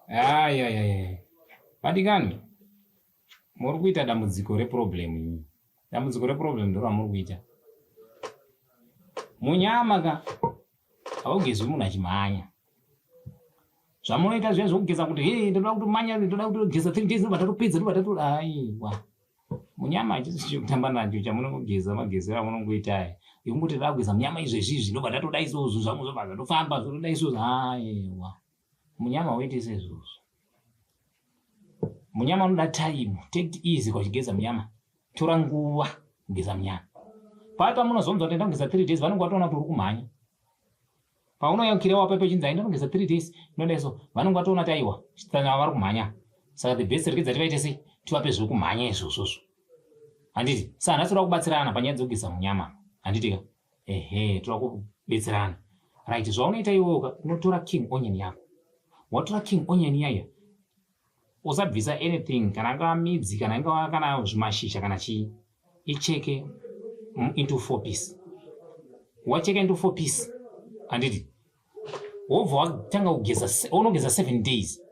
ayayaya vadikani muri kuita dambudziko reproblem imi dambudziko reproblem ndo ramuri kuita munyama ka haugezwi munhu achimhanya zvamunoita zviya zvekugeza kuti he ndoda kutomanya ndoda kutogeza three days ndobatatu pizza ndobatatu aiwa munyama hachisi chekutamba nacho chamunongogeza magezero amunongoita aya yekungoti ndakugeza munyama izvezvi izvi ndobva ndatoda izvozvo zvangu zvobva zvatofamba zvotoda izvozvo aewa munyama woite sezvozvo munyama unoda time take it easy kwachigeza munyama tora nguva kugeza munyama paya pamunozonzwa kuti ndakugeza three days vanenge vatoona kuti uri kumhanya paunoyaukirewa paipo ichinzi aindanogeza three days ndondeso vanenge vatoona taiwa chitsana vari kumhanya saka the best rekidza tivaite sei tivape zviri kumhanya izvozvozvo handiti sa nhasi toda kubatsirana panyaya dzekugeza munyama handiti ka ehe toda kubetserana right zvaunoita iwoka unotora king onion yako watora king onion yaya usabvisa anything kana angava midzi kana ingava kana zvimashizha kana chii icheke into four piece wacheka into four piece handiti wobva watanga kugeza unogeza seven days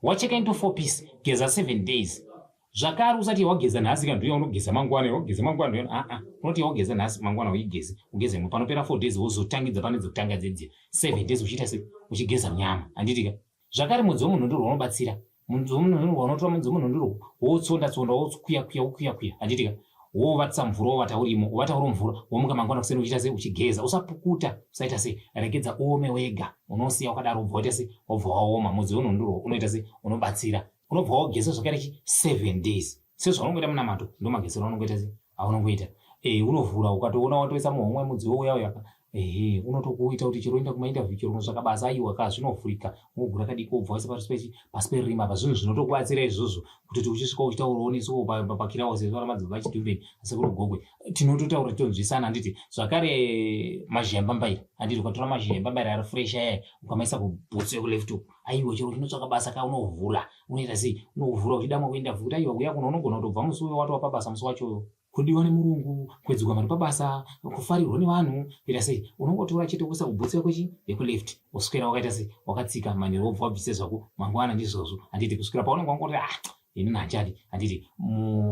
wacheka into four piece geza seven days zvakare usati wageza nhasi kana ndiuya unogeza mangwana wageza mangwana aa ah, ah. unoti wageza nhasi mangwana uigeze ugeze panopera four days wozotangidza pane dzekutanga dzedziya seven days uchiita se uchigeza nyama handitika Zvakare mudzi wemunhundurwa unobatsira. Mudzi wemunhundurwa unotora mudzi wemunhundurwa woutsonda tsonda woukuya kuya ukuya kuya handitika wovatisa mvura wovata urimo wovata uri mvura womuka mangwana kuseni uchiita sei uchigeza usapukuta usaita sei regedza uome wega unosiya wakadaro ubva waita sei wobva waoma mudzi wemunhundurwa unoita sei unobatsira unobva wageza zvakaita chi seven days sezvaunongoita munamato ndomagezero aunongoita se aunongoita eh, unovhura ukatoona watoisa muhomwe mudziwo uya uya ehe unotokuita kuti chero enda kumainterview chero unotsvaka basa aiwa ka zvinovhurika unogura kadiko ubva waisa pasi pechi pasi perima apa zvinhu zvinotokubatsira izvozvo kutoti uchisvika uchitaura onisoo papakira wose zvara madzibva achitumbeni asekuru gogwe tinototaura tonzwisana handiti zvakare mazhemba mbaira handiti ukatora mazhemba mbaira ari fresh ayaya ukamaisa kubhutsu yekuleft uku aiwa chero uchinotsvaka basa ka unovhura unoita sei unovhura uchida mwe kuenda futi aiwa kuya kuno unogona kutobva musi uyo watova pabasa musi wachoyo kudiwa nemurungu kwedzigwa mari pabasa kufarirwa nevanhu kuita sei unongotora chete kuisa kubhutsi yako chi yekuleft woswera wakaita sei wakatsika manhero wobva wabvise zvako mangwana ndizvozvo handiti kuswera paunenge wangoti ah ini nhanjari handiti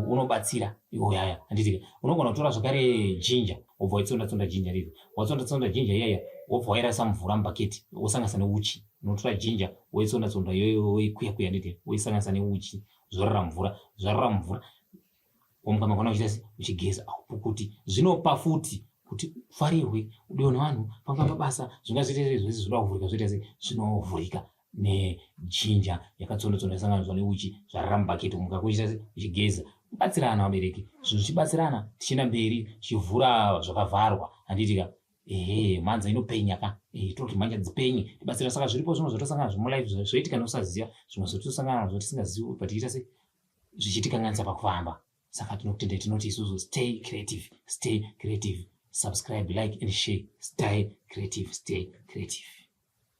unobatsira iwo yaya handiti unogona kutora zvakare jinja wobva waitsonda tsonda jinja riri watsonda tsonda jinja iyaya wobva wairasa mvura mubhaketi wosanganisa neuchi unotora jinja woitsonda tsonda iyoyo woikuya kuya handiti woisanganisa neuchi zvorara mvura zvarara mvura womuka makona uchiita se uchigeza aupukuti zvinopa futi kuti ufarirwe udiwe nevanhu panga pabasa zvingazoita sei zvese zvoda kuvhurika zvoita sei zvinovhurika nejinja yakatsondotsonda yasanganiswa neuchi zvarara mubhaketi umu kakuchita uchigeza batsirana vabereki zvinhu zvichibatsirana tichienda mberi tichivhura zvakavharwa handiti ka ehe mhanza inopenya ka ehe toti mhanja dzipenye tibatsira saka zviripo zvimwe zvotosangana zvemulife zvoitika neusaziva zvimwe zvotosangana nazvo tisingazivi but tiita se zvichitikanganisa pakufamba saka tinokutendai tinoti isusu stay creative stay creative subscribe like and share stay creative stay creative